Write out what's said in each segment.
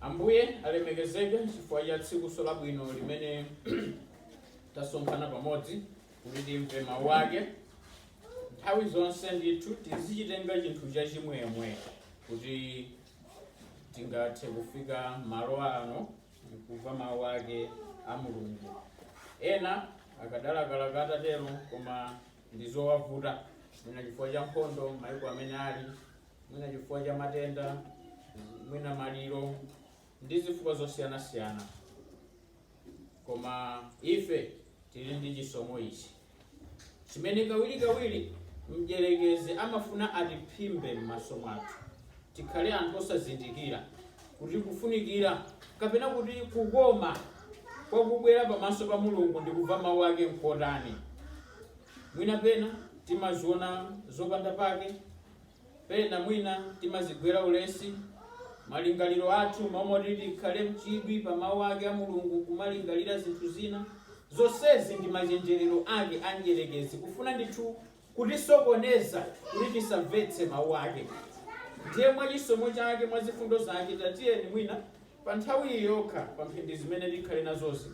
Ambuye alemekezeke chifukwa cha tsikunso labwino limene tasonkhana pamodzi kuti timve mawu ake nthawi zonse ndithu tizichitenga chinthu chachimwemwe kuti tingathe kufika malo ano kumva mawu ake a mulungu ena akadalakalaka atatero koma ndi zowavuta mwina chifukwa cha nkhondo maiko amene ali mwina chifukwa cha matenda mwina maliro ndi zifukwa zosiyanasiyana koma ife tili ndi chisomo ichi chimene kawirikawiri mdyerekezi amafuna atiphimbe m'maso mwathu tikhale anthu osazindikira kuti kufunikira kapena kuti kukoma kwa kubwera pamaso pa mulungu ndi kumva mawu ake nkotani mwina pena timaziona zopanda pake pena mwina timazigwera ulesi malingaliro athu mmalo moti tikhale mchidwi pa mawu ake a mulungu kumalingalira zinthu zina zonsezi ndi machenjerero ake a mdyerekezi kufuna ndithu kutisokoneza kuti tisamvetse Mawu Ake. Ndiye mwa chisomo Chake, mwa zifundo Zake, tatiyeni mwina pa nthawi iyi yokha, pa mphindi zimene tikhale nazozi,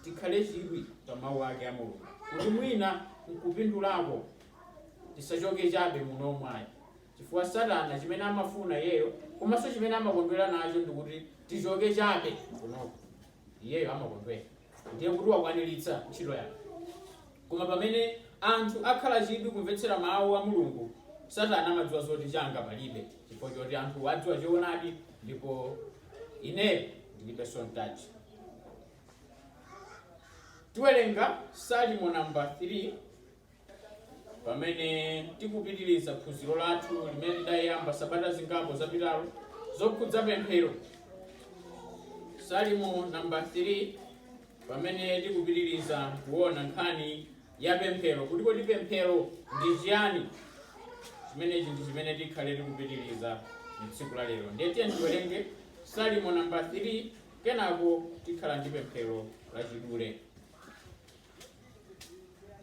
tikhale chidwi pa Mawu Ake a Mulungu, kuti mwina nkupindulako tisachoke chabe muno mwayayi chifukwa satana chimene amafuna iyeyo komanso chimene amakondwera nacho ndikuti tichoke chabe kunoko iyeyo amakondwera ndiye kuti wakwaniritsa ntchito yake koma pamene anthu akhala chidwi kumvetsera mawu a mulungu satana amadziwa zoti changa palibe chifukwa choti anthu adziwa choonadi ndipo ineyo ndilibe sontaji tiwerenga salimo namba 3 pamene tikupitiriza phunziro lathu limene tidayamba sabata zingapo zapitazo zokhudza pemphero salimo namba 3 pamene tikupitiriza kuona nkhani ya pemphero kuti kodi pemphero ndi chiyani chimenechi ndi chimene tikhale tikupitiriza mtsiku la lero ndiye tiyeni tiwerenge salimo namba 3 kenako tikhala ndi pemphero lachidule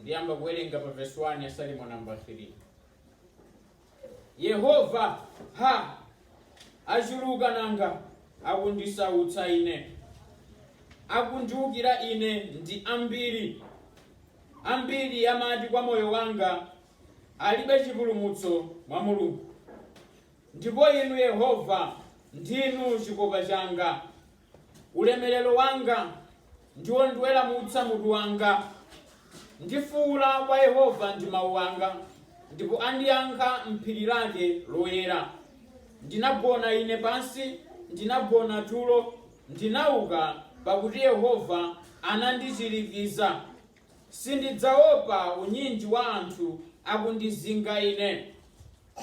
ndiyamba kuwerenga pa vesi 1 ya salimo namba 3 yehova ha achuluka nanga akundisautsa ine akundiukira ine ndi ambiri ambiri amati kwa moyo wanga alibe chipulumutso mwa mulungu ndipo inu yehova ndinu chikopa changa Ulemerero wanga ndi wondiweramutsa mutu wanga, ndifuula kwa Yehova ndi mau anga, ndipo andiyankha m'phiri lake loyera. Ndinagona ine pansi, ndinagona tulo, ndinauka, pakuti Yehova anandichirikiza. Sindidzaopa unyinji wa anthu akundizinga ine.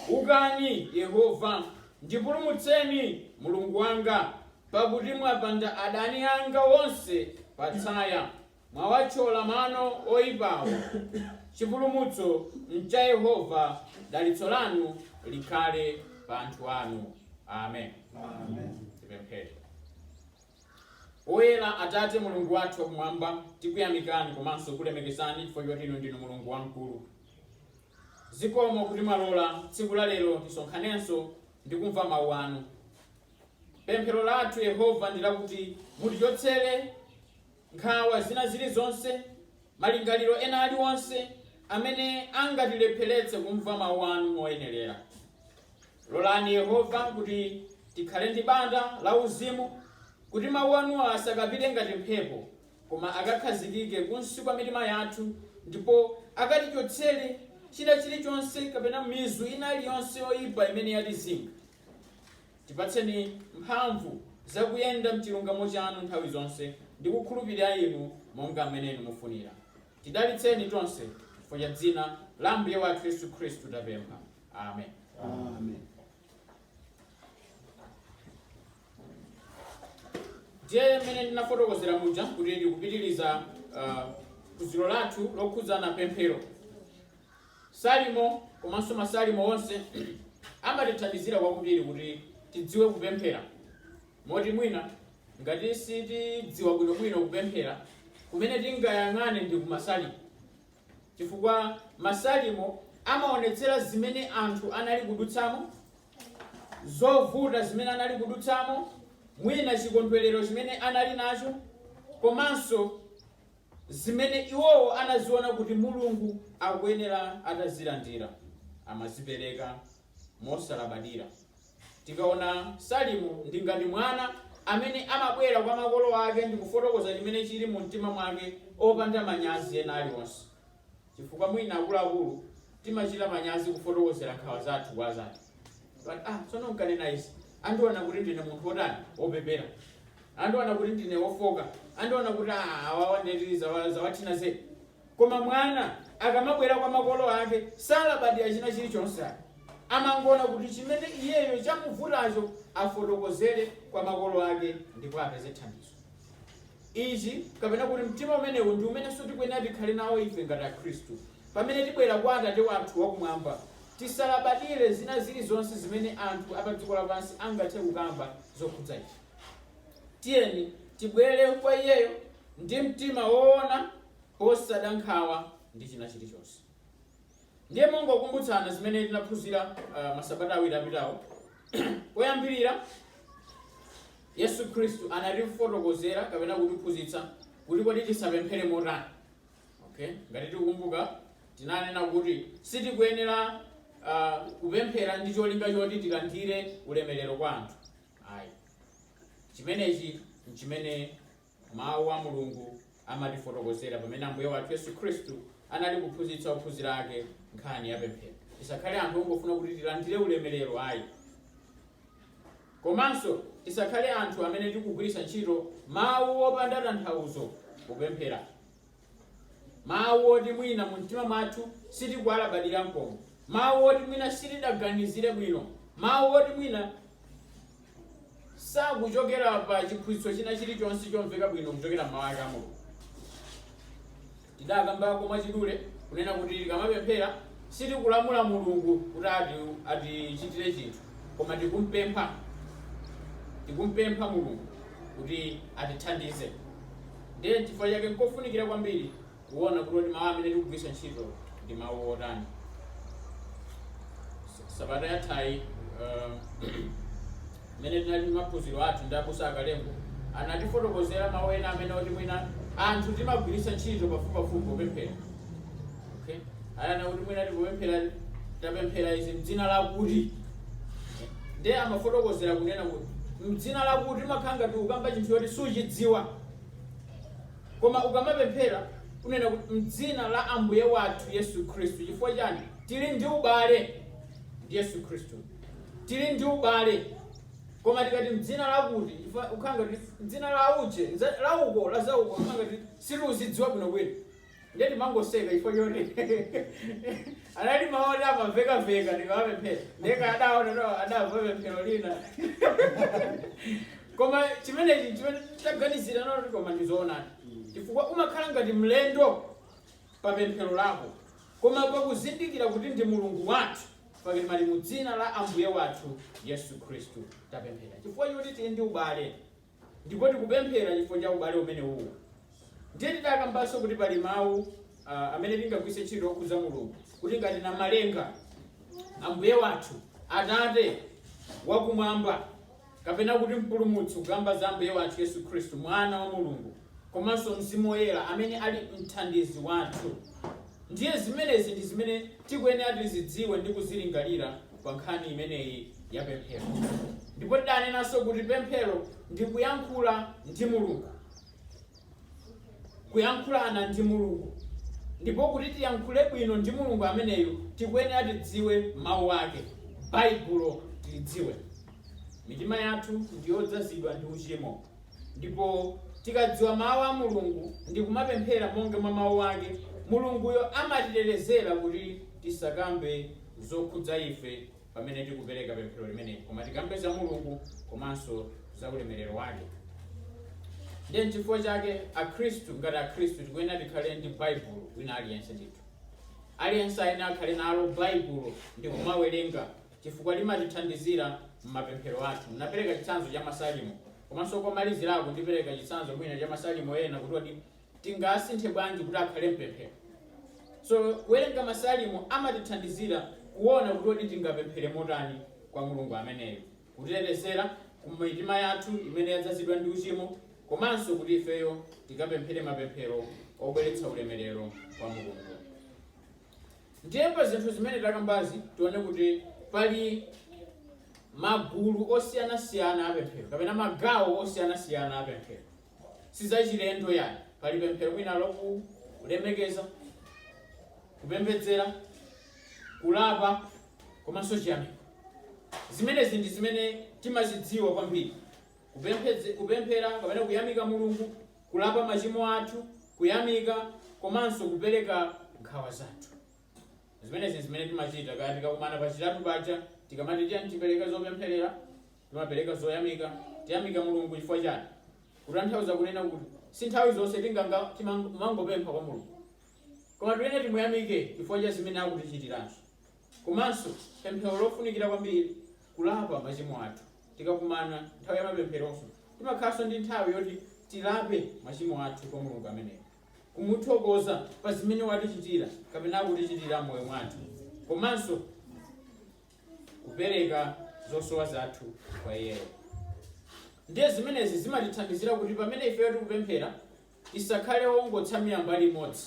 Ukani, Yehova, ndipulumutseni, Mulungu wanga, pakuti mwapanda adani anga onse pa tsaya, mwawathyola mano oipawo. Chipulumutso ncha Yehova, dalitso lanu likhale pa anthu anu. Amen. Tipemphere. Oyera Atate, Mulungu wathu wa Kumwamba, tikuyamikani komanso kulemekezani chifukwa choti Inu ndinu Mulungu wamkulu. Zikomo kuti mwalola tsiku la lero tisonkhanenso ndi kumva Mau anu. Pemphero lathu, Yehova, ndi lakuti mutichotsere nkhawa zina zilizonse, malingaliro ena alionse amene angatilepheretse kumva Mau anu moyenerera. Lolani Yehova kuti tikhale ndi bata lauzimu, kuti mawu anuwa asakapite ngati mphepo, koma akakhazikike kunsi kwa mitima yathu ndipo akatichotsere china chilichonse kapena mizu ina iliyonse yoipa imene yatizinga. Tipatseni mphamvu za kuyenda m'chilungamo chanu nthawi zonse ndi kukhulupirira Inu monga mmene Inu mufunira. Tidalitseni tonse, chifukwa cha dzina la Ambuye wathu Yesu Khristu tapempha. Amen. Amen. ndiye mmene ndinafotokozera muja kuti tikupitiriza ah, phunziro lathu lokhudzana pemphero salimo komanso masalimo onse amatithandizira kwambiri kuti tidziwe kupemphera moti mwina ngati sitidziwa bwinobwino kupemphera kumene tingayang'ane ndi kumasalimo Chifukwa Masalimo amaonetsera zimene anthu anali kudutsamo, zovuta zimene anali kudutsamo, mwina chikondwerero chimene anali nacho, komanso zimene iwowo anaziona kuti Mulungu akuyenera atazilandira. Amazipereka mosalabadira Tikaona Salimo, ndi ngati mwana amene amabwera kwa makolo ake ndi kufotokoza chimene chili mu mtima mwake opanda manyazi ena alionse. Chifukwa mwina akuluakulu timachita manyazi kufotokozera nkhawa zathu kwa azathu. Kuti ah, tsono nkanena izi, andiona kuti ndine munthu wotani? Wopepera. Andiona kuti ndine wofoka. Andiona kuti ah, awawa ndeti zawathina zedi. Koma mwana akamabwera kwa makolo ake salabadira china chilichonse ayi. Amangoona kuti chimene iyeyo chamuvutacho afotokozere kwa makolo ake ndipo apeze thandizo. Ichi kapena kuti mtima umenewu ndi umenenso tikuyenera tikhale nawo ife ngati Akhristu. Pamene tibwera kwa Atate wathu wakumwamba, tisalabadire zina zilizonse zimene anthu apadziko lapansi angathe kukamba zokhudza ife. Tiyeni tibwere kwa iyeyo ndi mtima woona posada nkhawa ndi china chilichonse ndiye mongokumbutsana zimene tinaphunzira uh, masabata awiri apitawo poyambirira yesu khristu anatifotokozera kapena kutiphunzitsa kuti kodi tisapemphere motani okay ngati tikukumbuka tinanena kuti sitikuyenera uh, kupemphera ndi cholinga choti tilandire ulemerero kwa anthu ayi chimenechi nchimene Mawu a Mulungu amatifotokozera pamene Ambuye wathu Yesu Khristu anali kuphunzitsa ophunzira ake nkhani ya pemphero. Tisakhale anthu ongofuna kuti tilandire ulemerero ayi. Komanso tisakhale anthu amene tikugwiritsa ntchito mawu opanda tanthauzo popemphera. Mawu oti mwina mumtima mwathu sitikuwalabadira n'komwe, mawu oti mwina sitidaganizire bwino, mawu oti mwina sakuchokera pa chiphunzitso china chilichonse chomveka bwino kuchokera m'mawu ake a Mulungu. Tidakambako mwachidule kunena kuti tikamapemphera sitikulamula Mulungu kuti ati- atichitire chinthu, koma tikumpempha Mulungu kuti atithandize. Ndiye n'chifukwa chake n'kofunikira kwambiri kuona kuti kodi mawu amene tikugwiritsa ntchito ndi mawu otani. S- Sabata yathayi uh, mmene tinali ndi maphunziro athu ndi abusa a Kalembo anatifotokozera mawu ena amene oti mwina anthu timagwiritsa ntchito pafupipafupi popemphera Okay? Anena kuti mwina tikupemphera tapemphera izi mdzina lakuti ndiye amafotokozera kunena kuti mdzina lakuti umakhala ngati ukamba chinthu choti suchidziwa koma ukamapemphera unena kuti mdzina la ambuye wathu yesu khristu chifukwa chani tili ndi ubale ndi yesu khristu tili ndi ubale koma tikati mdzina lakuti chifukwa ukhala ngati mdzina la uje nza- la uko la zauko ukhala ngati sitikuzidziwa bwinobwino Ndiye ndimangoseka chifukwa choti anali mawu oti amamveka-mveka ndikamapemphera. Ndiye kaya adaona kuti adamva pemphero lina. Koma chimenechi n'chimene taganizira nalo kuti koma ndi zoonadi. Chifukwa umakhala ngati mlendo pa pemphero lako. Koma pakuzindikira kuti ndi Mulungu wathu, pakati pali mu dzina la Ambuye wathu Yesu Khristu tapemphera. Chifukwa choti tili ndi ubale. Ndipo tikupemphera chifukwa cha ubale umene uwu. Ndiye tidakambanso kuti pali mawu ah, amene tingagwiritse ntchito okhudza Mulungu kuti ngati namalenga Ambuye wathu Atate wakumwamba kapena kuti mpulumutsi kukamba za Ambuye wathu Yesu Khristu mwana wa Mulungu komanso Mzimu Woyera amene ali mthandizi wathu. Ndiye zimenezi ndi zimene tikuyenera tizidziwe ndi kuzilingalira pa nkhani imeneyi ya pemphero. Ndipo tidanenanso kuti pemphero ndi kuyankhula ndi Mulungu, kuyankhulana ndi Mulungu. Ndipo kuti tiyankhule bwino ndi Mulungu ameneyu tikuyenera tidziwe mawu ake, Baibulo tilidziwe. Mitima yathu ndi yodzazidwa ndi uchimo. Ndipo tikadziwa Mawu a Mulungu ndi kumapemphera monga mwa Mawu Ake, Mulunguyo amatitetezera kuti tisakambe zokhudza ife pamene tikupereka pemphero limeneli, koma tikambe za Mulungu komanso za ulemerero Wake. Ndiye n'chifukwa chake Akhristu ngati Akhristu tikuyenera tikhale ndi Baibulo wina aliyense ndithu. Aliyense ayenera akhale nalo Baibulo ndi kumawerenga chifukwa limatithandizira m'mapemphero athu. Ndinapereka chitsanzo cha Masalimo. Komanso komalizirako ndipereka chitsanzo mwina cha Masalimo ena kuti kodi tingasinthe bwanji kuti akhale pemphero. So kuwerenga Masalimo amatithandizira kuona kuti kodi tingapemphere motani kwa Mulungu ameneyo, kutitetezera ku mitima yathu imene yadzazidwa ndi uchimo, komanso kuti ifeyo tikapemphere mapemphero obweretsa ulemerero kwa Mulungu. Ndiye pa zinthu zimene takambazi tione kuti pali magulu osiyanasiyana a pemphero kapena magawo osiyanasiyana a pemphero. Si zachilendo yani, pali pemphero mwina lokulemekeza, kupembedzera, kulapa komanso chiyamiko. Zimenezi ndi zimene timazidziwa kwambiri, kupemphe- kupemphera kapena kuyamika Mulungu kulapa machimo athu, kuyamika komanso kupereka nkhawa zathu. Zimenezi n'zimene timachita kaya tikakumana pachitatu paja tikamati tiyeni tipereke zopempherera, timapereka zoyamika, tiyamika Mulungu chifukwa chani? Kutanthauza kunena kuti si nthawi zonse tinganga timamangopempha kwa Mulungu. Koma tiyenera timuyamike chifukwa cha zimene akutichitiranso. Komanso pemphero lofunikira kwambiri, kulapa machimo athu. Tikakumana nthawi ya mapempheronso, timakhalanso ndi nthawi yoti tilape machimo athu kwa Mulungu ameneyo, kumuthokoza pa zimene watichitira kapena akutichitira m'moyo mwathu, komanso kupereka zosowa zathu kwa iyeyo. Ndiye zimenezi zimatithandizira kuti pamene ifeyo tikupemphera, tisakhale ongotsamira mbali imodzi.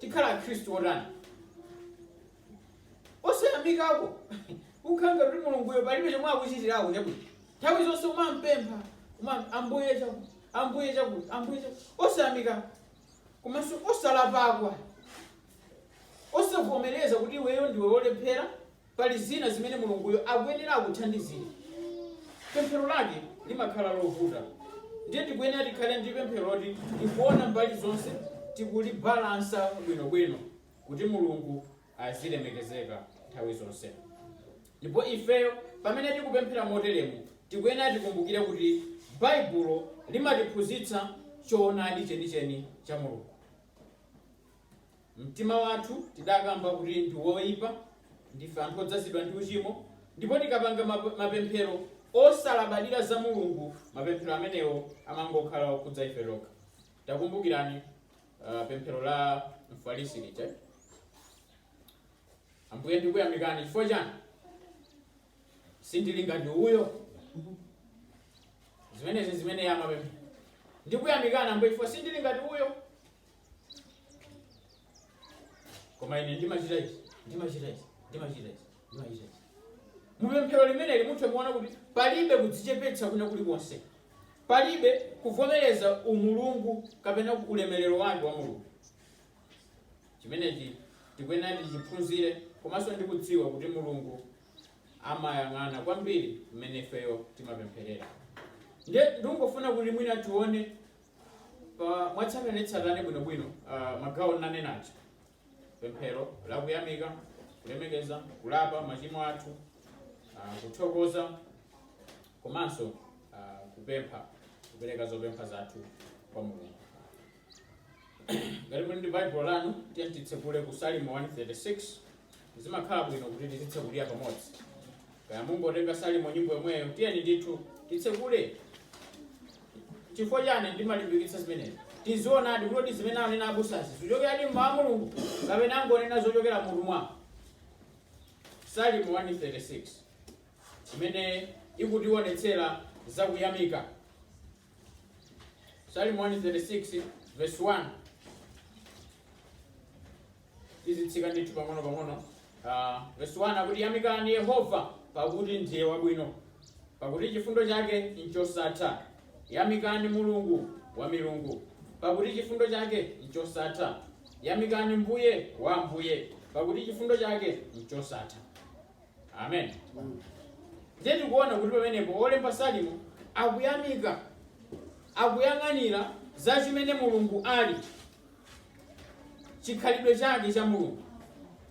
tikhala akhristu otani osayamikako kukhala ngati mulunguyo palibe chomwe akuchitirako chabwino nthawi zonse umampempha uma- ambuye chakuti ambuye chakuti ambuye chakuti osayamika komanso osalapakwa osavomereza kuti iweyo ndiwe wolephera pali zina zimene Mulunguyo akuyenera akuthandizire, pemphero lake limakhala lovuta. Ndiye tikuyenera tikhale ndi pemphero loti tikuona mbali zonse, tikulibalansa bwinobwino kuti Mulungu azilemekezeka nthawi zonse. Ndipo ifeyo pamene tikupemphera moteremu, tikuyenera tikumbukire kuti Baibulo limatiphunzitsa choonadi chenicheni cha Mulungu. Mtima wathu tidakamba kuti ndi woipa, ndife anthu odzazidwa ndi uchimo, ndipo tikapanga mapemphero osalabadira za Mulungu, mapemphero amenewo amangokhala okhudza ife tokha. Takumbukirani uh, pemphero la Mfarisi lija. Ambuye ndikuyamikani chifukwa chani? Sindili ngati uyo. Zimenezi zimene amapemphera. Ndikuyamikani Ambuye chifukwa sindili ngati uyo. koma ine ndimachita ichi ndimachita ichi ndimachita ichi ndimachita ichi mupemphero limeneli mutha kuona kuti palibe kudzichepetsa kwina kulikonse palibe kuvomereza umulungu kapena ulemerero wake wa mulungu chimenechi tikuyenera tichiphunzire komanso ndikudziwa kuti mulungu amayang'ana kwambiri mmene ifeyo timapempherera nde ndikungofuna kuti mwina tione Pa- mwatsatanetsatane bwinobwino uh, magawo ndinanena aja pemphero la kuyamika kulemekeza kulapa machimo athu uh, kuthokoza komanso uh, kupempha kupereka zopempha zathu kwa mulungu ngati muli ndi baibulo lanu tiyeni titsekule ku salimo 136 Zimakhala bwino kuti tizitsekulira pamodzi. Kaya mungotenga Salimo nyimbo yomweyo, tiyeni ndithu titsekule. Chifukwa chani ndimalimbikitsa zimenezi? Tizionadi kuti zimene anena abusazi zichokeradi m'mawu a Mulungu kapena angonena zochokera m'mutu mwawo. Salimo 136 imene ikutiwonetsera za kuyamika. Salimo 136 verse 1. tizitsika ndithu pang'ono pang'ono Ah, verse 1 akuti yamikani yehova pakuti ndiye wabwino pakuti chifundo chake nchosatha yamikani mulungu wa milungu pakuti chifundo chake nchosatha yamikani mbuye wa ambuye pakuti chifundo chake nchosatha amen ndiye tikuona kuti pamenepo olemba salimo akuyamika akuyang'anira za chimene mulungu ali chikhalidwe chake cha mulungu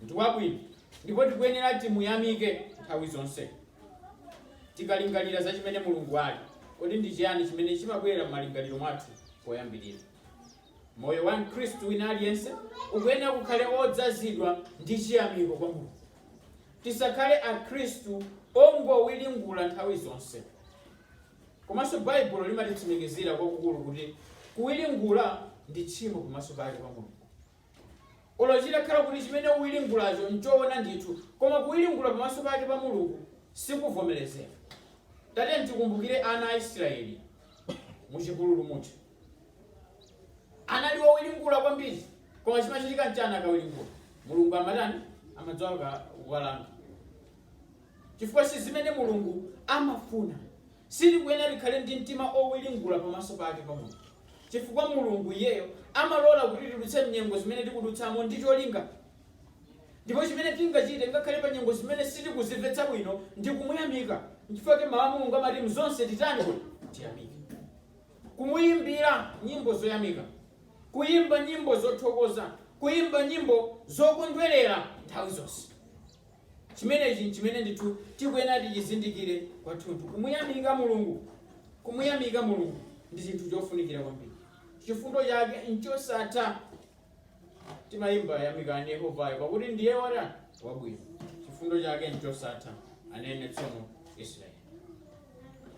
ndi wabwino ndipo tikuyenera timuyamike nthawi zonse tikalingalira za chimene mulungu ali kodi ndi chiyani chimene chimabwera m'malingaliro mwathu poyambirira moyo wa mkhristu wina aliyense ukuyenera ukhale odzazidwa ndi chiyamiko kwa mulungu tisakhale akhristu ongowiringula nthawi zonse Komanso Baibulo limatitsimikizira kwakukulu kuti kuwiringula ndi tchimo pamaso pake, pa Mulungu. Olo chitakhala kuti chimene uwiringulacho nchoona ndithu, koma kuwiringula pamaso pake pa Mulungu sikuvomerezeka. Tatiyeni tikumbukire ana a Israeli mu chipululu muja. Anali owiringula kwambiri, koma chimachitika nchani akawiringula? Mulungu amatani? Amadzuka kuwalanga. chifukwa si zimene Mulungu amafuna. Sitikuyenera tikhale ndi mtima owiringula pamaso pake pa Mulungu chifukwa Mulungu iyeyo amalola kuti tidutse mnyengo zimene tikudutsamo ndi cholinga. Ndipo chimene tingachite ngakhale pa nyengo zimene sitikuzimvetsa bwino ndi kumuyamika. Nchifukwa chake mau a Mulungu amati mzonse titani? Tiyamike. Kumuyimbira nyimbo zoyamika. Kuyimba nyimbo zothokoza. Kuyimba nyimbo zokondwerera nthawi zonse. Chimenechi n'chimene ndithu tikuyenera tichizindikire kwathunthu. Kumuyamika Mulungu, kumuyamika Mulungu ndi chinthu chofunikira kwambiri. Chifundo chake n'chosatha. Timayimba yamikani Yehovayo, pakuti ndiye wotani? Wabwino. Chifundo chake n'chosatha, anene tsono Israeli.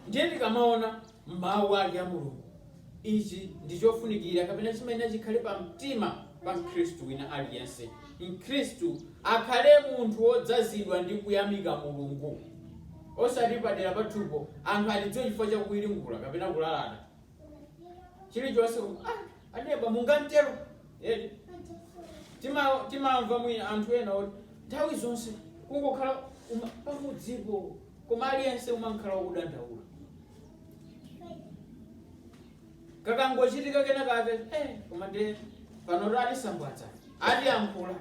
Ndiye tikamaona M'mawu ake a Mulungu. Ichi ndi chofunikira kapena chimene chikhale pa mtima pa mkhristu wina aliyense. Mkhristu akhale munthu wodzazidwa ndi kuyamika Mulungu. Osati padela pathupo anthu atidziwe chifukwa cha kuwiringula kapena kulalata chilichonse koma ah! aneba mungamtero eti Tima- timamva mwina anthu ena oti nthawi zonse kungokhala uma- pamudzipo koma aliyense amakhala akudandaula kakangochitika kena kake eh, koma nde panoto atisambwadza atiyankhula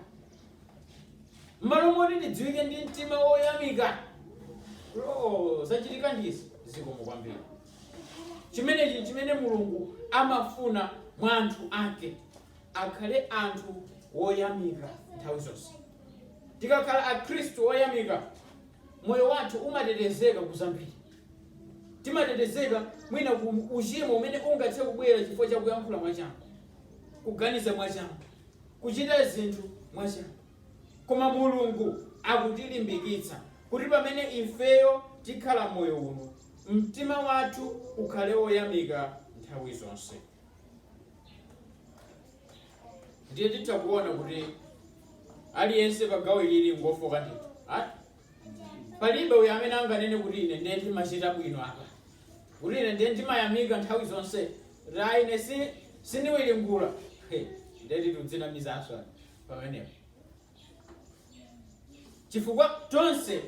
mmalo moti tidziwike ndi mtima woyamika olo zachitika ndizi zikomo kwambiri Chimenechi n'chimene Mulungu amafuna mwa anthu ake, akhale anthu oyamika nthawi zonse. Tikakhala Akhristu oyamika, moyo wathu umatetezeka ku zambiri. Timatetezeka mwina ku uchimo umene ungathe kubwera chifukwa cha kuyankhula mwachangu, kuganiza mwachangu, kuchita zinthu mwachangu. Koma Mulungu akutilimbikitsa kuti pamene ifeyo tikhala moyo uno, Mtima wathu ukhale woyamika nthawi zonse. Ndiye titha kuona kuti aliyense pa gawo ilili ngofoka ndithu. Ati? Palibe uyo amene anganene kuti ine ndiye ndimachita bwino apa. Kuti ine ndiye ndimayamika nthawi zonse. Kuti ayi ine si sindiwiringula. He, Ndiye tikudzinamizanso pamenepo. chifukwa tonse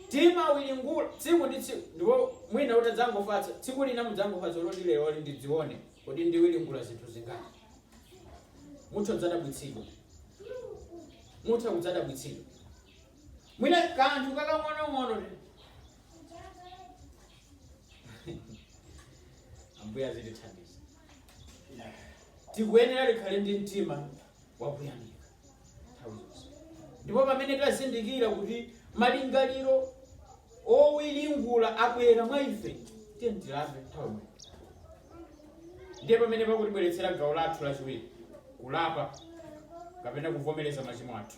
timawiringula tsiku ndi tsiku ndipo mwina mutadzangofatsa tsiku lina mudzangofatsa loti lero ndidzione kodi ndiwiringula zinthu zingati mutha kudzadabwitsidwa mutha kudzadabwitsidwa mwina kanthu kakang'onong'ono ambuye azitithandiza tikuyenera tikhale ndi mtima wakuyamika nthawi zonse ndipo pamene tazindikira kuti malingaliro owiringula abwera mwa ife tiye tilape nthawi imene ndiye pamene pakutibweretsera gawo lathu lachiwiri kulapa kapena kuvomereza machimo athu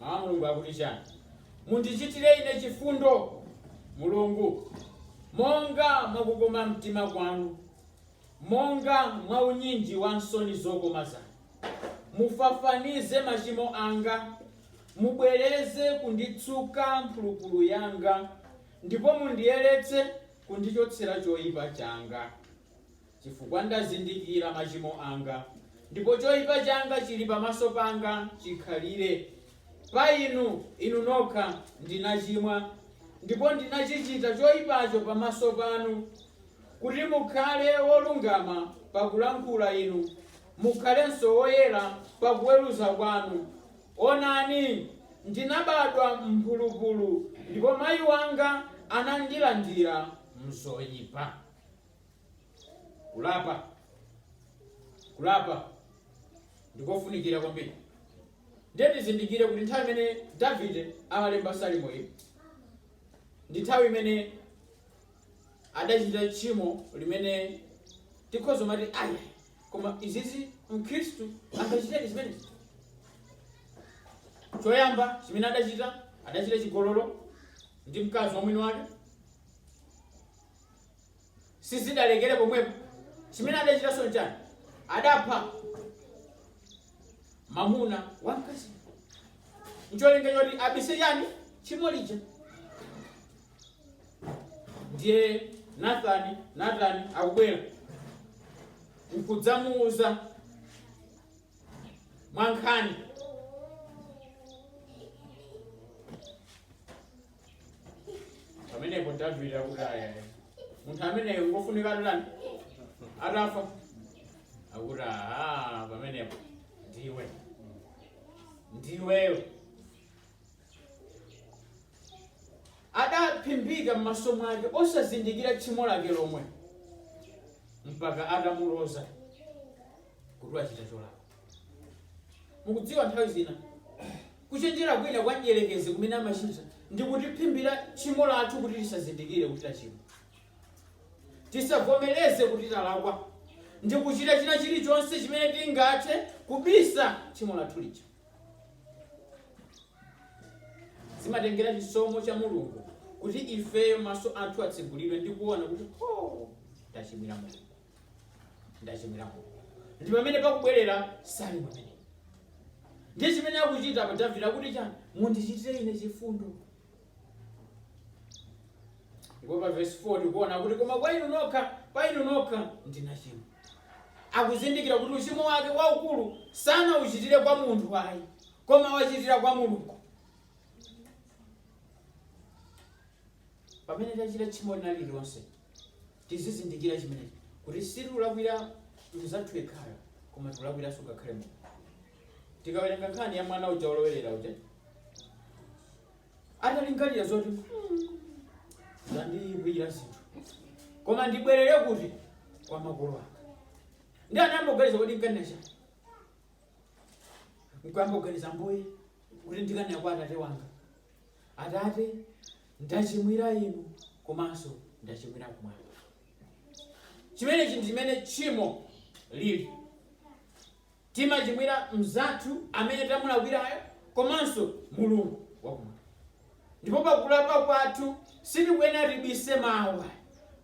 Mawu a Mulungu akuti chani? Mundichitire ine chifundo, Mulungu, monga mwa kukoma mtima kwanu, monga mwa unyinji wa nsoni zokoma zanu. Mufafanize machimo anga, mubwereze kunditsuka mphulupulu yanga, ndipo mundiyeretse kundichotsera choipa changa. Chifukwa ndazindikira machimo anga, ndipo choipa changa chili pamaso panga chikhalire. Pa Inu, Inu nokha, ndinachimwa, ndipo ndinachichita choipacho pamaso panu. Kuti mukhale wolungama pakulankhula Inu, mukhalenso woyera pakuweruza kwanu. Onani, ndinabadwa m'mphulupulu, ndipo mayi wanga anandilandira m'zoipa. kulapa kulapa ndikofunikira kwambiri ndiye tizindikire kuti nthawi imene davide amalemba salimo iyi ndi nthawi imene adachita tchimo limene tikhoza kumati ayi koma izizi mkhristu angachitedi zimenezi choyamba chimene adachita adachita chigololo ndi mkazi wa mwini wake sizidalekere pomwepo chimene adachitanso nchani adapha mamuna wa mkazi ncholinga choti abise chani tchimo lija ndiye nathani nathani akubwera nkudzamuuza mwankhani pamenepo davide akuti aya munthu ameneyo ngofunika atani atafa akuti aha pamenepo ndiwe ndiweyo adaphimbika m'maso mwake osazindikira tchimo lake lomwe mpaka atamuloza kuti wachita cholakwa mukudziwa nthawi zina kuchenjera kwina kwa mdierekezi kumene amachita ndi kutiphimbira tchimo lathu kuti tisazindikire kuti tachimwa tisavomereze kuti talakwa ndi kuchita china chilichonse chimene tingathe kubisa tchimo lathu lija zimatengera chisomo cha mulungu kuti ifeyo maso athu atsegulidwe ndi kuona kuti tachimwira mulungu ndachimwira mulungu ndi pamene pakubwerera salimo imeneyi ndiye chimene akuchita apa davide akuti chani mundichitire ine chifundo ndipo pa vesi 4 tikuona kuti koma pa inu nokha pa inu nokha ndinachimwa akuzindikira kuti uchimo wake waukulu sanauchitire kwa munthu ayi koma wachitira kwa mulungu pamene tachita tchimo lina lililonse Tizizindikira chimenechi kuti sitilakwira mnzathu yekhayo koma tikulakwiranso ngakhale Mulungu. Tikawerenga nkhani ya mwana uja wolowerera uja atalingalira zoti "Hmm, zandiyipira zinthu koma ndibwerere kuti kwa makolo anga ndi anayamba kuganiza kuti nkanena chani nkuyamba kuganiza mbuye kuti ndikanena kwa atate wanga Atate, ndachimwira inu komanso ndachimwira kumwamba. Chimenechi ndi chimene tchimo lili. Timachimwira mnzathu amene tamulakwirayo komanso Mulungu wakumwamba. Ndipo pa kulapa kwathu sitikuyenera tibise mawu.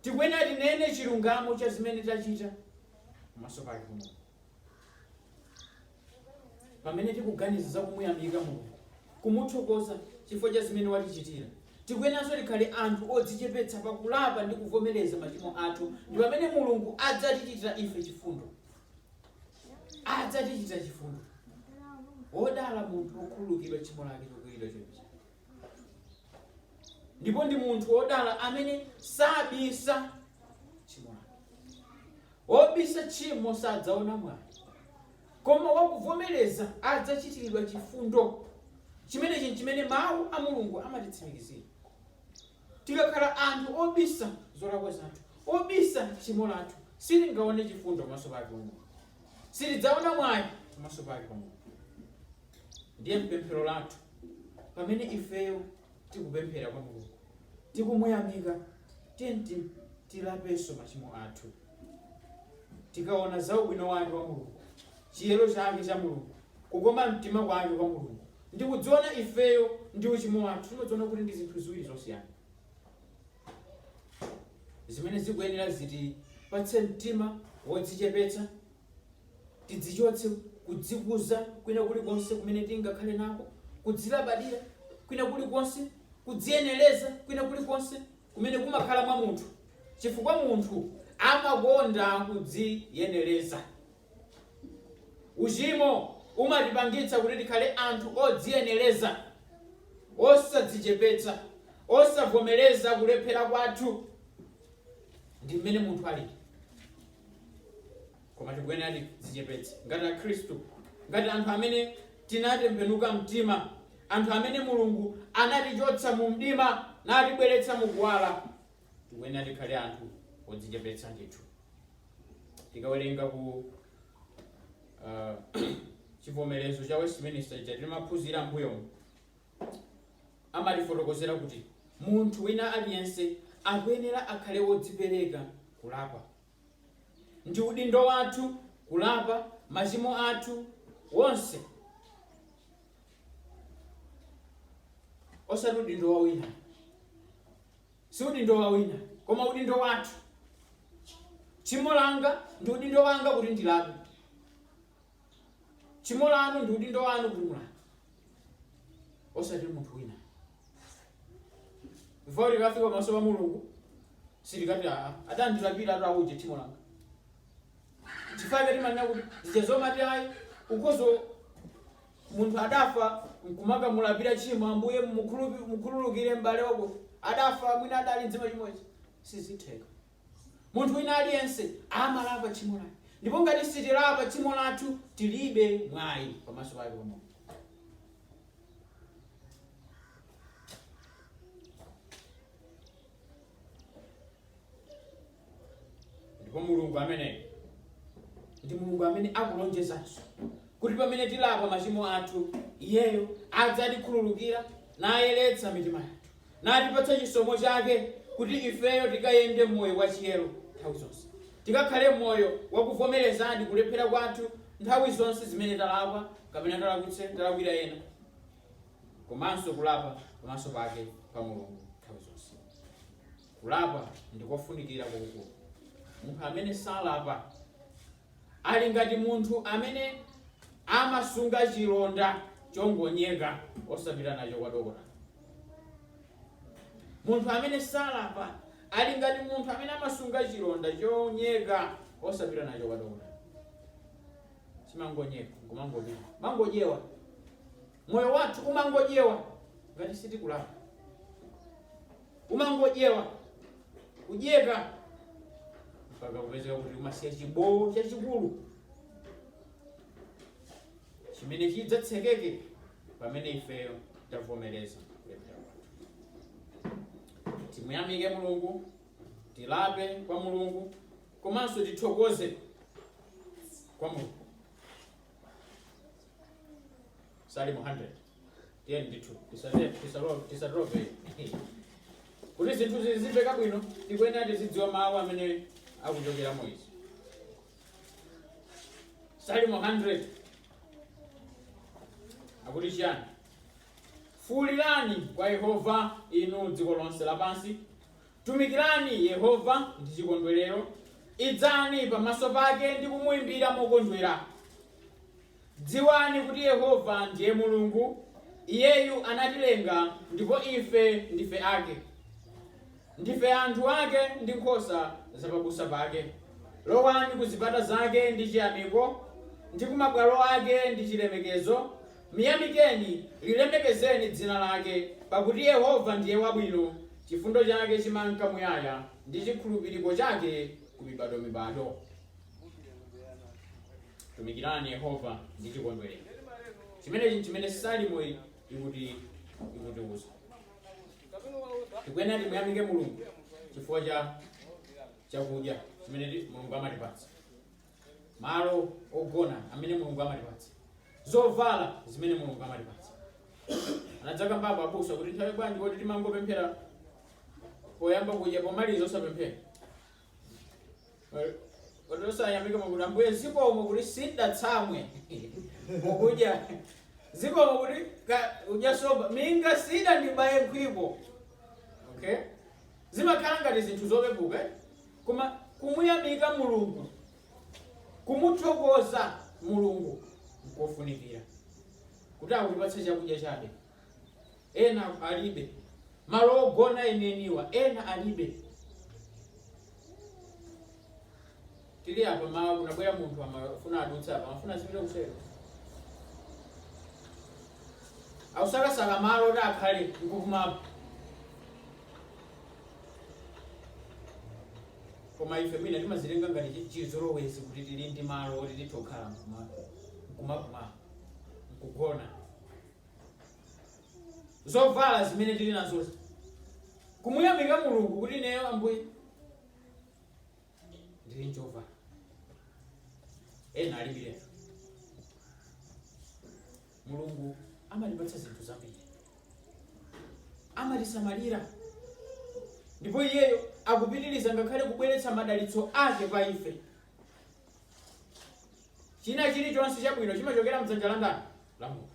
Tikuyenera tinene chilungamo cha zimene tachita pamaso pake Mulungu. Pamene tikuganiza za kumuyamika Mulungu, kumuthokoza chifukwa cha zimene watichitira, tikuyeneranso tikhale anthu odzichepetsa pakulapa ndi kuvomereza machimo athu. Ndi pamene Mulungu adzatichitira ife chifundo, adzatichitira chifundo. Wodala munthu wokhululukidwa tchimo lake chokwiriridwa choipa. ndipo ndi munthu wodala amene sabisa tchimo lake wobisa tchimo sadzaona mwayi koma wakuvomereza adzachitiridwa chifundo chimenechi chimene mawu a mulungu amatitsimikizira tikakhala anthu obisa zolakwa zathu obisa tchimo lathu sitingaone chifundo pamaso pake mulungu sitidzaona mwayi pamaso pake pa mulungu ndiye pemphero lathu Pamene ifeyo tikupemphera kwa Mulungu, tikumuyamika, tiyeni tilapenso machimo athu. Tikaona za ubwino wake wa Mulungu, chiyero chake cha Mulungu, kukoma mtima kwake kwa Mulungu, ndi kudziona ifeyo ndi uchimo wathu, timadziona kuti ndi zinthu ziwiri zosiyana zimene zikuyenera zitipatse mtima wodzichepetsa Tidzichotse kudzikuza kwina kulikonse kumene tingakhale nako, kudzilabadira kwina kulikonse, kudziyenereza kwina kulikonse kumene kumakhala mwa munthu, chifukwa munthu amakonda kudziyenereza. Uchimo umatipangitsa kuti tikhale anthu odziyenereza, osadzichepetsa, osavomereza kulephera kwathu. Ndi mmene munthu alili. koma tikuyenera tidzichepetse ngati akhristu ngati anthu amene tinatembenuka mtima anthu amene mulungu anatichotsa mu mdima natibweretsa mu kuwala tikuyenera tikhale anthu odzichepetsa ndithu tikawerenga ku uh, chivomerezo cha westminster chija timaphunzira mbuyomu amatifotokozera kuti munthu wina aliyense akuyenera akhale wodzipereka kulapa. Ndi udindo wathu kulapa machimo athu wonse, osati udindo wa wina, si udindo wa wina, koma udindo wathu. Tchimo langa ndi udindo wanga kuti ndilape, tchimo lanu ndi udindo wanu kuti mulape. osati munthu wina before likafika pamaso pa mulungu silikati aa adandilapira atu auje tchimo langa chifukwa chake timanena kuti zija zomati ayi ukhoza munthu adafa nkumaka mulapira tchimo ambuye mukhulupi- mukhululukire m'bale wako adafa mwina adali mu tchimo izi sizitheka Munthu wina aliyense amalapa tchimo lake. Ndipo ngati sitilapa tchimo lathu, tilibe mwayi pamaso pake pa Mulungu. Ndipo Mulungu ameneyo ndi Mulungu amene akulonjezanso kuti pamene tilapa machimo athu, iyeyo adzatikhululukira nayeretsa mitima yathu. natipatsa chisomo chake kuti ifeyo tikayende m'moyo wachiyero nthawi zonse, tikakhale moyo wakuvomerezadi kulephera kwathu nthawi zonse zimene talakwa kapena talakwitsa, talakwira ena, komanso kulapa pamaso pake pa Mulungu nthawi zonse. Kulapa ndikofunikira kwakukulu. Munthu amene salapa. ali ngati munthu amene amasunga chilonda chongonyeka osapita nacho kwa dokotala. Munthu amene salapa ali ngati munthu amene amasunga chilonda chonyeka osapita nacho kwa dokotala. Chimangonyeka kumangopita kumangodyewa, moyo wathu umangodyewa ngati sitikulapa. umangodyewa kudyeka mpaka kupezeka kuti umasiya chibowo chachikulu chimene chidzatsekeke pamene ifeyo tavomereza kulephera kwathu timuyamike mulungu tilape kwa mulungu komanso tithokoze kwa mulungu salimo 100 tiyeni ndithu tisate- tisalo- tilape kuti zinthu zizimveka bwino tikuyenera tizidziwa mawu amene akuchokera mu ichi salimo 100 akuti chiyani fuulirani kwa yehova inu dziko lonse lapansi tumikirani yehova ndi chikondwerero idzani pamaso pake ndi kumuimbira mokondwera Dziwani kuti Yehova ndiye Mulungu, Iyeyu anatilenga ndipo ife ndife ake. Ndife anthu ake ndi nkhosa za pabusa pake. Lowani ku zipata zake ndi chiyamiko, ndi ku mabwalo ake ndi chilemekezo. Myamikeni, lilemekezeni dzina lake, pakuti Yehova ndiye wabwino, chifundo chake chimanka muyaya, ndi chikhulupiriko chake ku mibadwomibadwo. tumikirani yehova ndi chikondwerero chimenechi nchimene salimo iyi ikuti ikutiuza tikuyenera timuyamike mulungu chifukwa cha chakudya chimene ti- mulungu amatipatsa malo ogona amene mulungu amatipatsa zovala zimene mulungu amatipatsa anadzakambapo abusa kuti nthawi zambiri timati timangopemphera poyamba kudya pomaliza osapemphera oti osayamika kuti ambuye zikomo kuti sindinatsamwe mukudya zikomo kuti ka- kudya nsomba minga sidandibaye nkhwiko okay zimakhala ngati zinthu zopepuka eh? koma kumuyamika mulungu kumuthokoza mulungu nkofunikira kuti akutipatsa chakudya chabe Ena alibe malo ogona enieniwa, ena alibe. Tili apa mawa, kunabwera munthu amafuna adutse apa, amafuna azipita kuseri, akusakasaka malo oti akhale nkuumapo. Koma ife mwina timazitenga ngati chi- chizolowezi kuti tili ndi malo oti titokhala nkumauma nkugona zovala zimene tili nazo kumuyamika mulungu kuti ineyo ambuye ndili njovala ena alibiretu mulungu amatipatsa zinthu zambiri amatisamalira ndipo iyeyo akupitiriza ngakhale kubweretsa madalitso ake pa ife China chiri chonse chabwino chimachokera mdzanja la ndani? La Mulungu.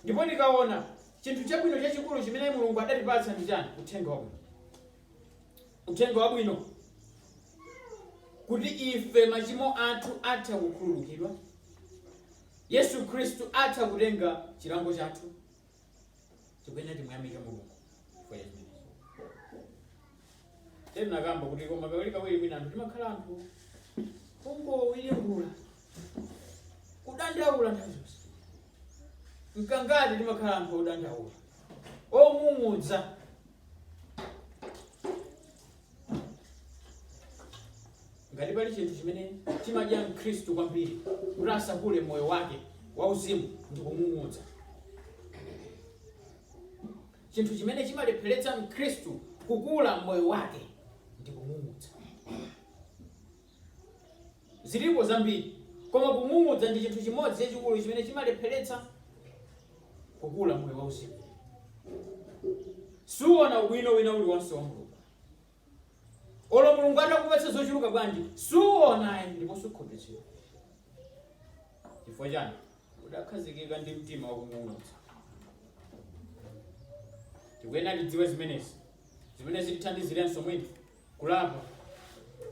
Ndipo ndikaona, chinthu chabwino chachikulu chimene Mulungu adatipatsa ndi chani? Uthenga wabwino. Uthenga wabwino kuti ife machimo athu atha kukhululukidwa, Yesu Khristu atha kutenga chilango chathu, tikuyenera timuyamike mulungu chifukwa cha chimenecho ndinakamba kuti koma kawiri kawiri mwina anthu timakhala anthu kungowiringula kudandaula nthawi zonse mkangati timakhala anthu odandaula ong'ung'udza ngati pali chinthu chimene chimadya mkhristu kwambiri kuti asakule mmoyo wake wauzimu ndi kung'ung'udza chinthu chimene chimalepheretsa mkhristu kukula moyo wake ndi kung'ung'udza Ziripo zambiri, koma kung'ung'udza ndi chinthu chimodzi chachikulu chimene chimalepheretsa kukula m'moyo wauzimu. Suona ubwino wina uliwonse wa Mulungu. Olo Mulungu atakupatsa zochuluka bwanji, suona ayi ndipo sukhutitsidwa. Chifukwa chani? Udakhazikika ndi mtima wakung'ung'udza. Tikuyenera tidziwe zimenezi zimene zitithandizirenso mwina kulapa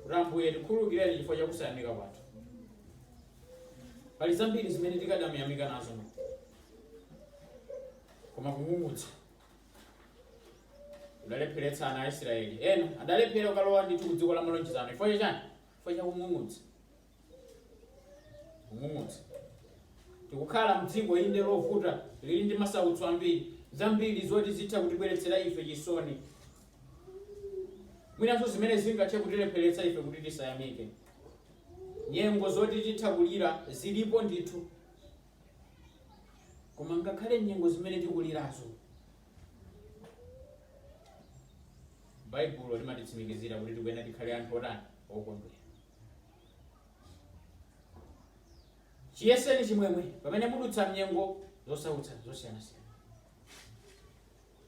kuti ambuye tikhululukireni chifukwa cha kusayamika kwathu pali zambiri zimene tikadamuyamika nazo koma kung'ung'udza kudalepheretsa ana a israeli ena adalephera kukalowa ndithu ku dziko la malonjezano chifukwa chachani chifukwa cha kung'ung'udza Mmodzi. Tikukhala mdziko, inde, lovuta, liri ndi masautso ambiri, zambiri zoti zitha kutibweretsera ife chisoni, mwinanso zimene zingathe kutilepheretsa ife kuti tisayamike. Nyengo zoti titha kulira zilipo ndithu, koma ngakhale nyengo zimene tikulirazo, Baibulo limatitsimikizira kuti tikuyenera tikhale anthu otani okondwera. chiyeseni chimwemwe pamene mudutsa mnyengo zosautsa zosiyanasiyana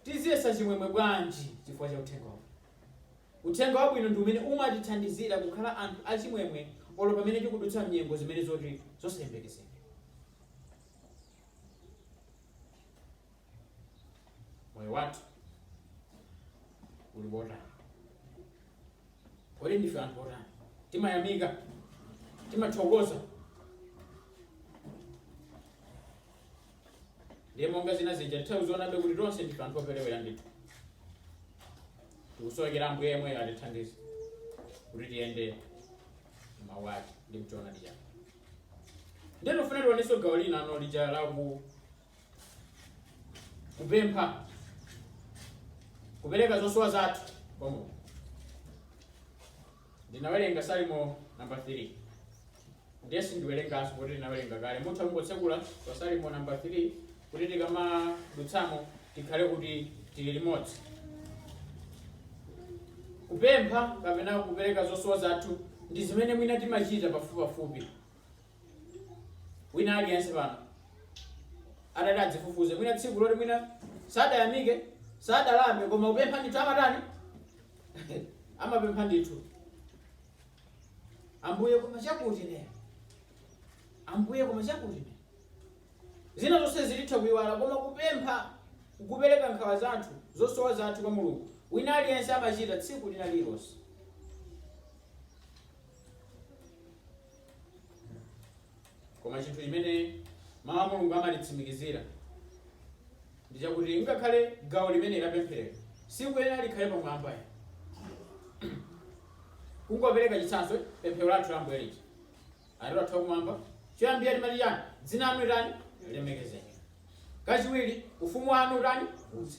tiziyesa chimwemwe bwanji chifukwa cha uthenga wabwino uthenga wabwino ndi umene umatithandizira kukhala anthu achimwemwe olo pamene tikudutsa mnyengo zimene zoti zosayembekezeka moyo wathu uli wotani Kodi ndife anthu otani? Timayamika, timathokoza. Ndiye monga zina zija titha kuzionabe kuti tonse ndife anthu operewerabe ndithu. Tikusowekera Ambuye yemweyo atithandize kuti tiyende m'mawu ake ndi mchoonadi chake. Ndiye tofuna tionenso gawo lina ano lija la ku kupempha kupereka zosowa zathu kwa mulungu tinawerenga salimo namba 3 ndiye sindiwerenganso poti tinawerenga kale mutha kungotsekula pa salimo namba 3 kuti tikamadutsamo tikhale kuti tili limodzi kupempha kapena kupereka zosowa zathu ndi zimene mwina timachita pafupipafupi wina aliyense pano adati adzifufuze mwina tsiku loti mwina sadayamike sadalambe koma kupempha ndithu amatani amapempha ndithu ambuye koma chakutichi ambuye koma chakutichi zina zonse zilitha kuyiwala koma kupempha kupereka nkhawa zathu zosowa zathu kwa mulungu wina aliyense amachita tsiku lina lililonse koma chinthu chimene mawu a mulungu amatitsimikizira ndi chakuti ngakhale gawo limeneli lapempheroli silikuyenera likhale pamwamba kungopereka chitsanzo pemphero lathu la ambuye lija atate wathu wakumwamba choyambira timati chani dzina lanu litani lilemekezeke kachiwiri ufumu wanu utani udze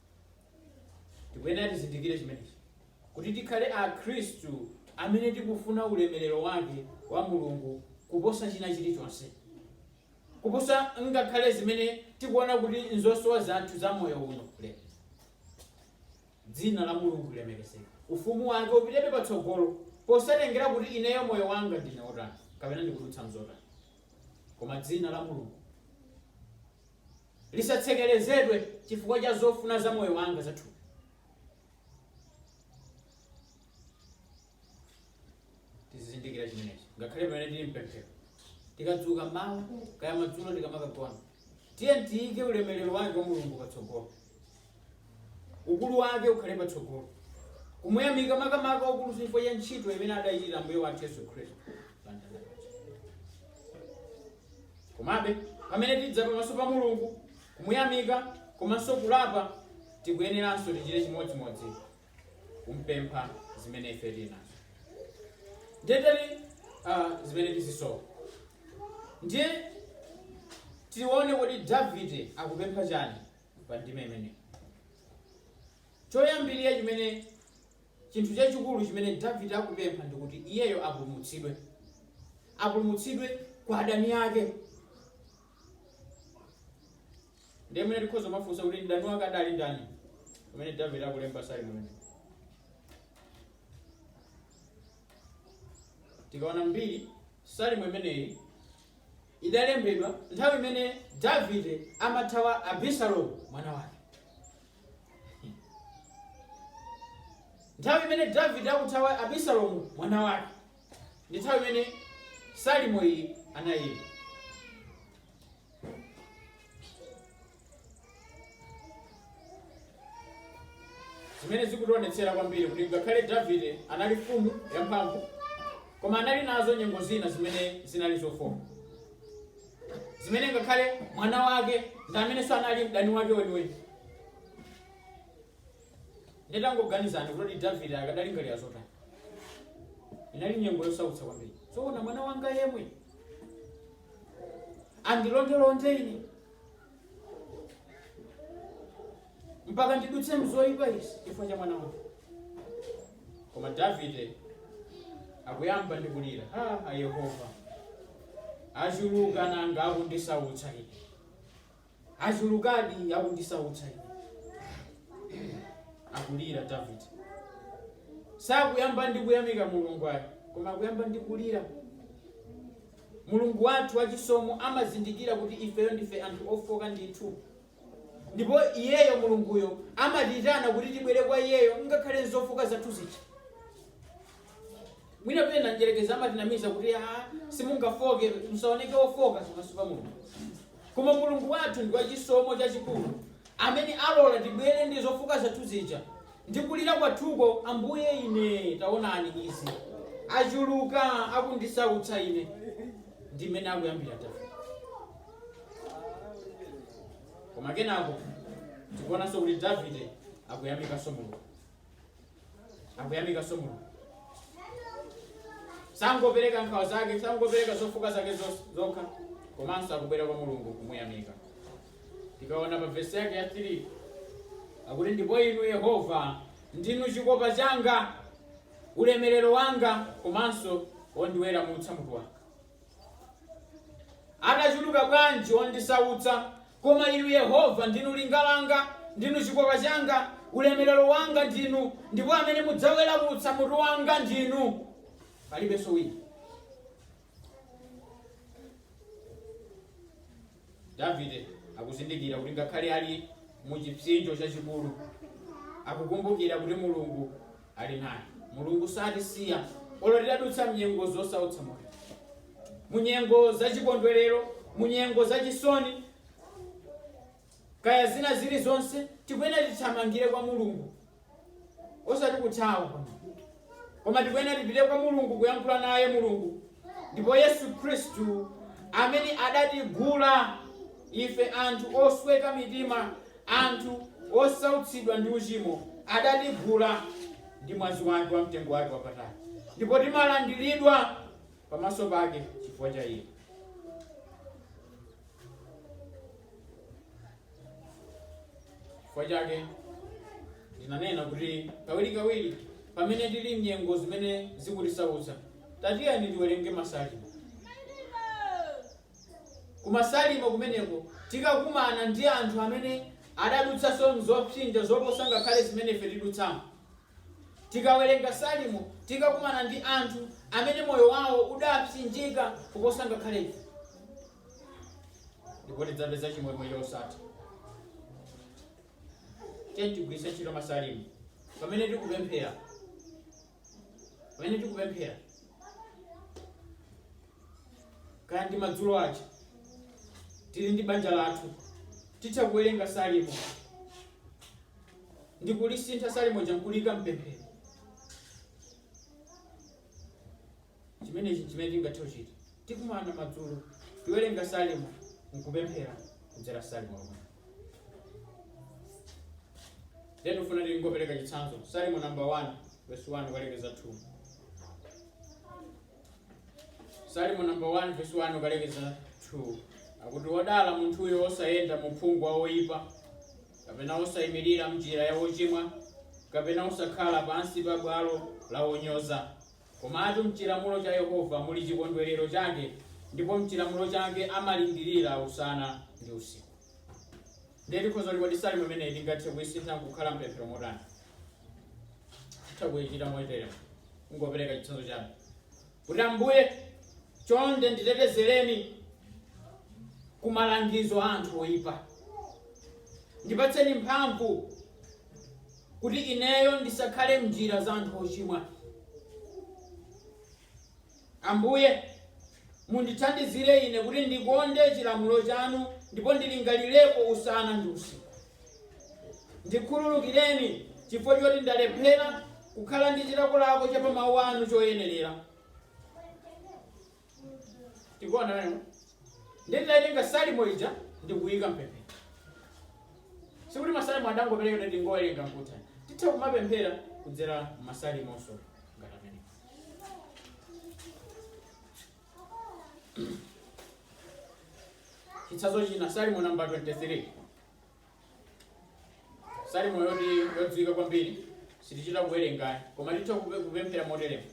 tikuyenera tizindikire chimenechi kuti tikhale akhristu amene tikufuna ulemerero wake wa mulungu kuposa china chilichonse kuposa ngakhale zimene tikuona kuti nzosowa zathu za moyo uno e dzina la mulungu lilemekezeke ufumu wake upitebe patsogolo posatengera kuti ineyo moyo wanga ndine otani kapena ndikudutsa mzotani koma dzina la mulungu lisatsekerezedwe chifukwa cha zofuna za moyo wanga za thupi. Tizizindikira chimenechi ngakhale pamene tili mpemphero, tikadzuka mmawa kaya madzulo tikamakagona, tiye tiyike ulemerero wake wa Mulungu patsogolo. ukulu wake ukhale patsogolo kumuyamika makamaka ukulu chifukwa cha ntchito imene adaichita Ambuye wathu yesu khristu pamtanda paja komabe pamene tidza pamaso pa mulungu kumuyamika komanso kulapa tikuyeneranso tichite chimodzimodzi kumpempha zimene ife tili nazo ndetali uh, zimene tizisowa ndiye tione kuti davide akupempha chani pa ndime imeneyi choyambirira chimene chinthu chachikulu chimene davide akupempha ndi kuti iyeyo apulumutsidwe apulumutsidwe kwa adani ake ndiye mwina tikhoza kumafunsa kuti mdani wake adali ndani pamene davide akulemba salimo imeneyi tikaona mbiri salimo imeneyi idalembedwa nthawi imene Davide amathawa Abisalomu mwana wake. Nthawi imene Davide akuthawa Abisalomu mwana wake ndi nthawi imene salimo iyi anayimba. zimene zikutionetsera kwambiri kuti ngakhale davide anali mfumu yamphamvu koma anali nazo nyengo zina zimene zinali zofooka zimene ngakhale mwana wake ndi amenenso anali mdani wake weniweni ndiye tangoganizani kuti davide akadalingalira zotani inali nyengo yosautsa kwambiri zoona mwana wanga yemwe andilondelonde ine mpaka ndidutse mzoyipa izi chifukwa cha mwana wanga koma davide akuyamba ndi kulira ha a yehova achuluka nanga akundisautsa ine achulukadi akundisautsa ine akulira davide sakuyamba ndi kuyamika mulungu ayi koma akuyamba ndi kulira Mulungu wathu wachisomo amazindikira kuti ifeyo ndife anthu ofooka ndithu. Ndipo Iyeyo, Mulunguyo, amatiitana kuti tibwere kwa Iyeyo ngakhale m'zofooka zathu zija. Mwina pena Mdyerekezi amatinamiza kuti, Aa, simungafooke, musaoneke ofooka pamaso pa Mulungu. Koma Mulungu wathu ndi wachisomo chachikulu amene alola tibwere ndi zofooka zathu zija, ndi kulira kwathuko, Ambuye, ine. Taonani, izi achuluka akundisautsa ine. Ndi mmene akuyambira Davide. Koma kenako tikuonanso kuti Davide akuyamikanso Mulungu. akuyamikanso mulungu sangopereka nkhawa zake sangopereka zofooka zake zos- zokha komanso akubwera kwa mulungu kumuyamika tikaona pa vesi yake ya 3 akuti ndipo inu yehova ndinu chikopa changa ulemerero wanga komanso wondiweramutsa mutu wanga Adachuluka bwanji ondisautsa, koma Inu Yehova ndinu linga langa, ndinu chikopa changa, ulemerero wanga ndinu, ndipo amene mudzaweramutsa mutu wanga ndinu. Palibenso wina. Davide akuzindikira kuti ngakhale ali mu chipsinjo chachikulu, akukumbukira kuti Mulungu ali naye. Mulungu satisiya olo tidadutsa mnyengo zosautsa moyo, munyengo za chikondwerero, munyengo za chisoni, kaya zina zili zonse tikuyenera tithamangire kwa Mulungu osati kuthawa koma tikuyenera tipite kwa mulungu kuyankhula naye mulungu ndipo yesu khristu amene adatigula ife anthu osweka mitima anthu osautsidwa ndi uchimo adatigula ndi mwazi wake wa mtengo wake wapatali ndipo timalandiridwa pamaso pake chifukwa cha iye chifukwa chake ndinanena kuti kawirikawiri pamene tili mnyengo zimene zikutisautsa tatiyeni tiwerenge masalimo kumasalimo kumeneko tikakumana ndi anthu amene adadutsanso mzopsinja zoposa ngakhale zimene ife tidutsamo tikawerenga salimo tikakumana ndi anthu amene moyo wawo udapsinjika kuposa ngakhale ife ndipo tidzapeza chimwemwe chosatha tiyeni tigwiritse ntchito masalimo pamene tikupemphera pamene tikupemphera kaya ndi madzulo aja tili ndi banja lathu titha kuwerenga salimo ndi kulisintha salimo lija n'kuliika mpemphero Chimenechi n'chimene tingathe kuchita. Tikumana madzulo, tiwerenga Salimo n'kupemphera kudzera Salimo lomwelo. Ndiye tikufuna tingopereka chitsanzo. Salimo namba 1 verse 1 ukalekeza 2. Salimo namba 1 verse 1 ukalekeza 2 akuti wodala munthuyo wosayenda mu uphungu wa oyipa kapena wosayimirira m'njira ya wochimwa kapena wosakhala pansi pa bwalo la wonyoza Komatu m'chilamulo cha Yehova muli chikondwerero chake, ndipo m'chilamulo chake amalingirira usana ndi usiku. Ndiye tikhoza kuti kodi salimo imeneyi tingathe kuisintha nkukhala pemphero motani? Titha kuichita moteremu, kungopereka chitsanzo chabe kuti Ambuye, chonde nditetezereni ku malangizo a anthu oipa, ndipatseni mphamvu kuti ineyo ndisakhale m'njira za anthu ochimwa. Ambuye, mundithandizire ine kuti ndikonde chilamulo chanu ndipo ndilingalirepo usana ndi usiku. Ndikhululukireni chifukwa choti ndalephera kukhala ndi chilakolako cha pa mawu anu choyenerera. tikuona nayo nditaitenga salimo ija ndikuyika mpemphero sikuti masalimo adangoperekedwa tingowerenga nkutha titha kumapemphera kudzera masalimonso ngati amene chitsanzo china salimo namba 23 salimo yoti yodziwika kwambiri sitichita kuwerenganso koma titha kupe- kupemphera moteremo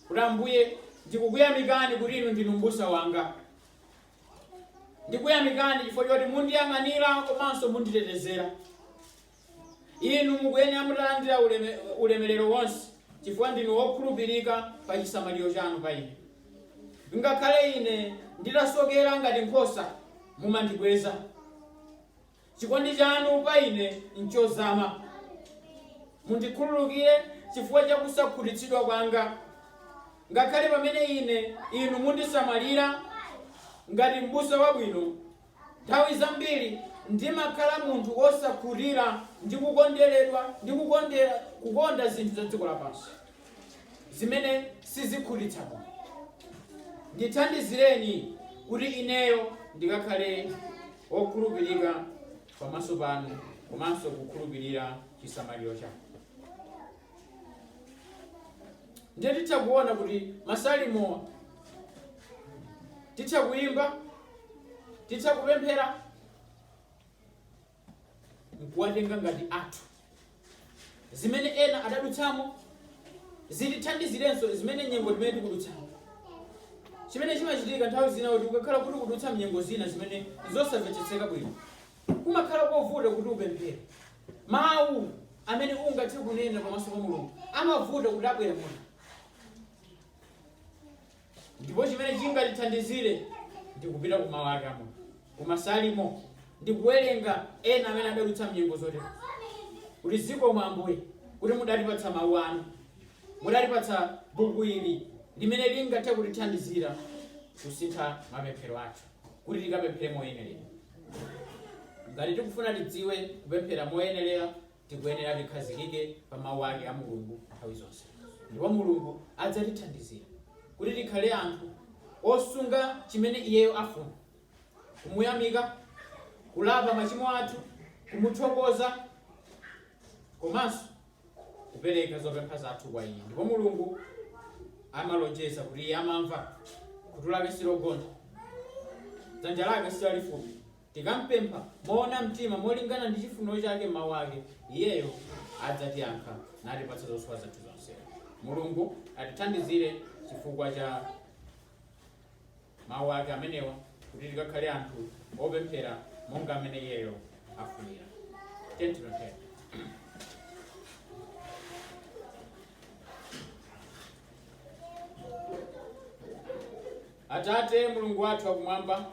kuti ambuye ndikukuyamikani kuti inu ndinu mbusa wanga ndikuyamikani chifukwa choti mundiyang'anira komanso munditetezera inu mukuyenera mutalandira uleme- ulemerero wonse chifukwa ndinu wokhulupirika pa chisamaliro chanu pa ine Ngakhale ine nditasokera ngati nkhosa, mumandibweza. Chikondi chanu pa ine nchozama. Mundikhululukire chifukwa cha kusakhutitsidwa kwanga, ngakhale pamene ine inu mundisamalira ngati m'busa wabwino Nthawi zambiri ndimakhala munthu wosakhutira ndi kukonderedwa ndi kukondera, kukonda zinthu za dziko lapansi zimene sizikhutitsa moyo. Ndithandizireni kuti ineyo ndikakhale wokhulupirika pamaso panu komanso kukhulupirira chisamaliro chanu. ndiye titha kuona kuti masalimowa titha kuyimba titha kupemphera nkuwatenga ngati athu zimene ena adadutsamo zitithandizirenso zimene nyengo zimene tikudutsamo chimene chimachitika nthawi zina kuti ukakhala kuti ukudutsa mnyengo zina zimene nzosamvetsetseka bwino kumakhala kovuta kuti upemphere. Mawu amene ungathe kunena pamaso pa Mulungu amavuta kuti abwere muno. Ndipo chimene chingatithandizire ndi kupita ku mawu ake amoyo, ku Masalimo, ndi kuwerenga ena amene adadutsa mnyengo zotere, kuti zikomo Ambuye kuti mudatipatsa mawu anu, mudatipatsa buku ili limene lingathe kutithandizira kusintha mapemphero athu. kuti tikapemphere moyenerera. Ngati tikufuna tidziwe kupemphera moyenerera, tikuyenera tikhazikike pa mawu ake a Mulungu nthawi zonse. Ndipo Mulungu adzatithandizira kuti tikhale anthu osunga chimene iyeyo afuna, kumuyamika, kulapa machimo athu, kumuthokoza, komanso kupereka zopempha zathu kwa iye ndipo mulungu amalonjeza kuti iye amamva khutu lake silogontha dzanja lake silalifupi tikampempha moona mtima molingana ndi chifuniro chake mmawu ake iyeyo adzatiyankha natipatsa zosowa zathu zonse mulungu atithandizire chifukwa cha Mawu ake amenewa kuti tikakhale anthu opemphera monga amene iyeyo afunira. Tiyeni tipemphere. Atate Mulungu wathu wakumwamba,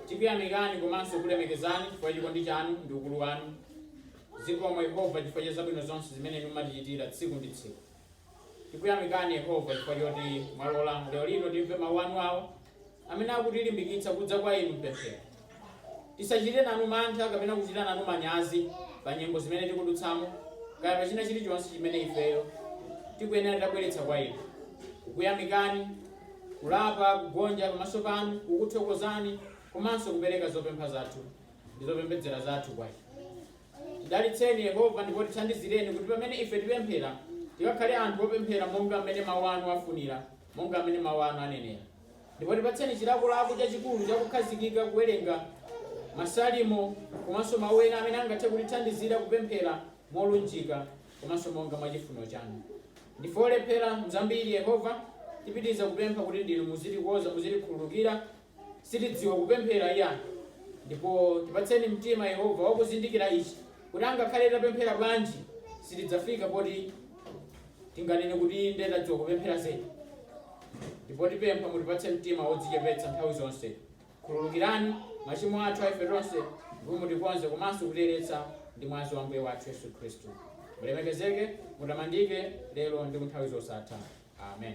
tikuyamikani komanso kulemekezani chifukwa cha chikondi chanu ndi ukulu wanu. Zikomo Yehova chifukwa cha zabwino zonse zimene inu mumatichitira tsiku ndi tsiku. Tikuyamikani Yehova chifukwa choti mwalola lero lino timve mawu anu awo amene akutilimbikitsa kudza kwa inu m'pemphero. Tisachite nanu mantha kapena kuchita nanu manyazi pa nyengo zimene tikudutsamo kaya pa china chilichonse chimene ifeyo tikuyenera tabweretsa kwa inu. Kukuyamikani, kulapa, kugonja pamaso panu, kukuthokozani komanso kupereka zopempha zathu ndi zopembedzera zathu kwa inu. Tidalitseni, Yehova, ndipo tithandizireni kuti pamene ife tipemphera, tikakhale anthu opemphera monga amene mawu anu afunira, monga amene mawu anu anenera. Ndipo tipatseni chilakolako chachikulu chakukhazikika kuwerenga masalimo komanso mawu ena amene angathe kutithandizira kupemphera molunjika komanso monga mwa chifuniro chanu. Ndife olephera mzambiri, Yehova, tipitiriza kupempha kuti ndinu muzitikoza, muzitikhululukira, sitidziwa kupemphera iyayi, ndipo tipatseni mtima, Yehova, wa kuzindikira ichi, kuti angakhale tapemphera bwanji, sitidzafika poti tinganene kuti inde tadziwa kupemphera zedi. Ndipo tipempha mutipatse mtima wodzichepetsa nthawi zonse. Khululukirani machimo athu a ife tonse, ndipo mutikonze komanso kutiyeretsa ndi mwazi wa Ambuye wathu Yesu Khristu. Mulemekezeke, mutamandike, lero ndi ku nthawi zosatha. Amen.